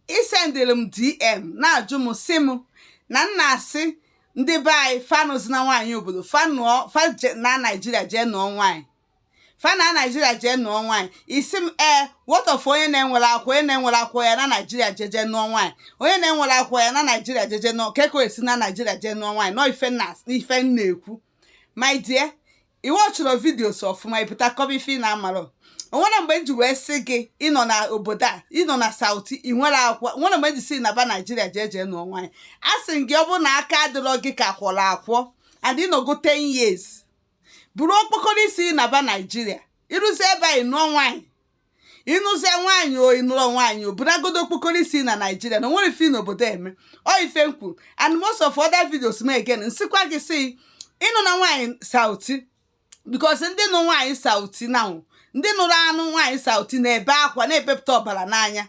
i sendere m dm na-ajụ m sị m na m na-asị ndị be anyị fa anụzina nwaanyị obodo fa nụọ fa je- naa naijiria jee nụọ nwaanyị fa naa naijiria jee nụọ nwaanyị ị sị m ee what of onye na-enwerọ akwụkwọ onye na-enwerọ akwụkwọ ya naa naijiria jeje nụọ nwaanyị onye na-enwerọ akwụkwọ ya naa naijiria jeje nụọ kee ka o si naa naijiria jee nụọ nwaanyị nọ ife m na ife m na-ekwu my dear ị watchirọ videos ọfụma ị pụta kọba ife ị na-amarọ o nwere mgbe m ji wee sị gị ị nọ na obodo a ị nọ na sauti ị nwerọ akwụkwọ o nwere mgbe m ji sị naba naijiria jee jee nụọ nwaanyị asị m gị ọ bụrụ na aka adịrọ gị ka a kwọrọ akwọ and ị nọgo 10 years bụrụ okpokoro isi naba naijiria i ruzie be anyị nụọ nwaanyị ị nụzie nwaanyị o ị nụrọ nwaanyị ọbụnagodu okpokoro isi na naijiria na o nwerọ ife ị nọ obodo eme ọ ife m kwuru and most of other videos m again m sịkwa gị sị anụna nwaanyị sauti because ndị nụ nwaanyị sauti na ndị nụrụ anụ nwaanyị sauti na-ebe akwa na-ebepụta ọbara n'anya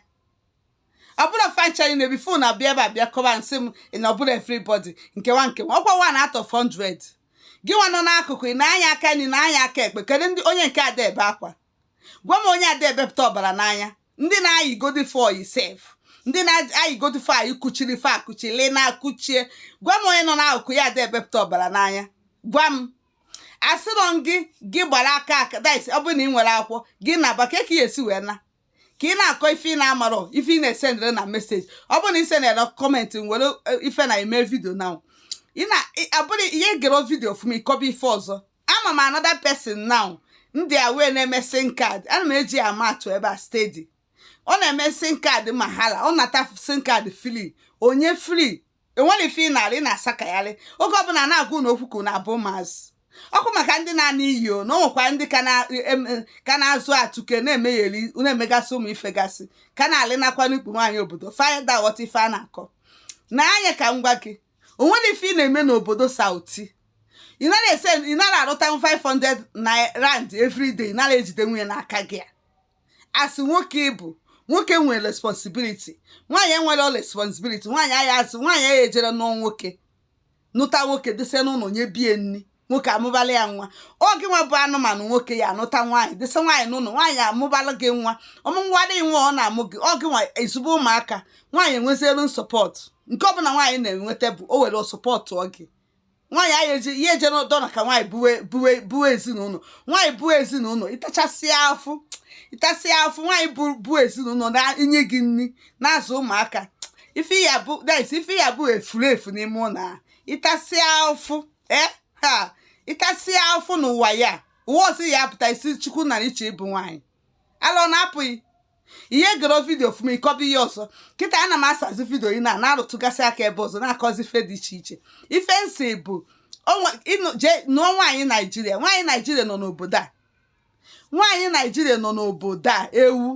ọ bụrụ franchise na ebi fon abịa ebe a bịa kọba sị m na ọ bụrọ everybody nke nwa nke nwa ọkwa one out of 100 gị nwa nọ n'akụkụ ị nee anya aka nri nee anya aka ekpe kedu ndị onye nke ada ebe akwa gwa m onye ada ebepụta ọbara n'anya ndị na-ayịgodi fa ọyị sef ndị na-ayịgodi fa ọyị kuchiri fa akuchili na-akuchie gwa m onye nọ n'akụkụ ya ada ebepụta ọbara n'anya gwa m asịrọ m gị gị gbara aka aka dis ọ bụrụ na ị nwerọ akwụkwọ gị naba kee ka ị ya-esi wee naa ka ị na-akọ ife ị na-amarọ ife ị na-esendere na message ọ bụrụ na ị sendere comment nwere ife na-eme video na ị na-abụrụ i gerọ video ọfụma ị kọba ife ọzọ ama m another person now ndị a wee na-eme sim card ana m eji ama atụ ebe a steady ọ na-eme sim card mahala ọ nata sim card free o nye free enwerọ ife ị na-arụ na-asakagharị oge ọbụla na-agwa unu okwu ka unu abụ maazị ọkụ maka ndị na-ana iyi o na ọ nwekwa ndị ka na- em- em- ka na-azụ atụke na-emegheri na-emegasị ụmụ ifegasị ka na-alị nakwa n'ikpu nwaanyị obodo fa ada aghọta ife a na-akọ nee anya ka m gwa gị o nwerọ ife ị na-eme n'obodo sauti ị nara ese ị nara arụta 500 naira rand everyday ị nara ejide nwunye n'aka gị a sị nwoke bụ nwoke nwere responsibility nwaanyị enwerọ responsibility nwaanyị aya asị nwaanyị aya ejere nụọ nwoke nụta nwoke dịsa n'ụlọ nyebe ya nri nwoke amụbala ya nwa ọ gị nwa bụ anụmanụ nwoke ya-anụta nwaanyị dịsa nwaanyị n'ụlọ nwaanyị amụbala gị nwa ọmụnwa dị nwa ọ na-amụ gị oge nwa ezigbo ụmụaka nwaanyị enwezirọ support nke ọbụla nwaanyị na-enweta bụ o nwerọ support oge nwaanyị anyị eje ya eje n'ụdọ na ka nwaanyị buwe buwe buwe ezinụlọ nwaanyị buwe ezinụlọ ịtachasịa afụ ịtasịa afụ nwaanyị bụ buwe ezinụlọ na-enye gị nri na-azụ ụmụaka ife ya bụ ife ya bụ efulefu n'ime ụlọ a ịtasịa afụ ee eh, ha ị tasịa afụ n'ụwa ya ụwa ọsị ya apụta isi chukwu na iche ịbụ nwaanyị alọ na apụghị ihe gere vidio ọfụma ị kọba ihe ọzọ kịta a na m asazi vidio ị na na-arụtụgasị aka ebe ọzọ na-akọzi ife dị iche iche ife m sị bụ nụọ nwaanyị naijiria nwaanyị naijiria nọ n'obodo a nwaanyị naijiria nọ n'obodo a ewu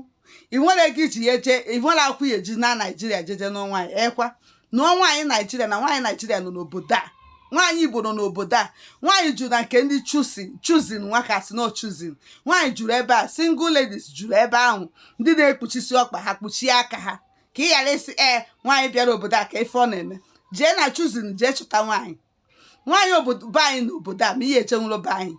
i nwerọ ego i ji ya eje i nwerọ akwụkwọ ị ya-eji naa naijiria jeje nụọ nwaanyị ekwa nụọ nwaanyị naijiria na nwaanyị naijiria nọ n'obodo a nwaanyị igbo nọ n'obodo a nwaanyị juru na nke ndị Chosen Chosen nwakasị na Chosen nwaanyị juru ebe a single ladies juru ebe ahụ ndị na-ekpuchisi ọkpa ha kpuchie aka ha ka ị ghara ịsị ee nwaanyị bịara obodo a ka ife ọ na-eme jee na Chosen jee chụta nwaanyị nwaanyị obodo be anyị na obodo a ma ị ya-ejenwurọ be anyị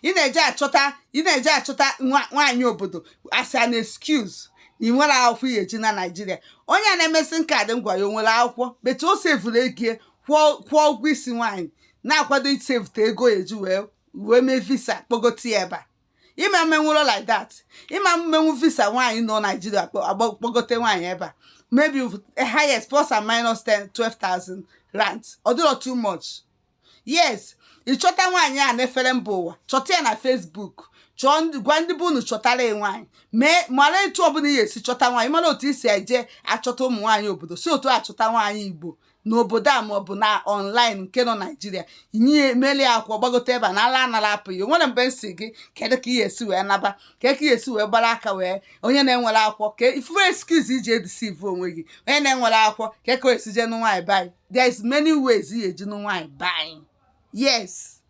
ị na-eje achọta ị na-eje achọta nwa- nwaanyị obodo as an excuse na i nwerọ akwụkwọ ị ya-eji naa naijiria onye a na-emesi ike dị ngwa ya o nwerọ akwụkwọ but o sevuru ego ya, kwụọ kwụọ ụgwọ isi nwaanyị na-akwado isevute ego ya eji wee wee mee visa kpọgote ya ebe a ị ma-emenwuru like that ị ma-emenwu visa nwaanyị nọ naijiria kpọgote nwaanyị ebe a maybe highest plus and minus 10 12,000 rand ọ dịrọ too much yes ị chọta nwaanyị a n'efere mba ụwa chọta ya na Facebook chọọ gwa ndị be unu chọtara gị nwaanyị mee mara etu ọbụla ị ga-esi chọta nwaanyị ị mara otu i si eje achọta ụmụ nwaanyị obodo si otu a chọta nwaanyị Igbo n'obodo a maọbụ na ọnlaịn nke nọ naijiria ị ya-emeli akwụkwọ gbagote ebe a na ala anara apụ ya nwere mgbe m sị gị kedu ka ị ya-esi wee naba ka ka esi wee gbara aka wee onye na-enwerọ akwụkwọ ka ị fụ ife excuse i ji e-deceive onwe gị onye na-enwerọ akwụkwọ ka ka esi jee nụ nwaanyị be anyị there is many ways ị ga-eji nụ nwaanyị be anyị yes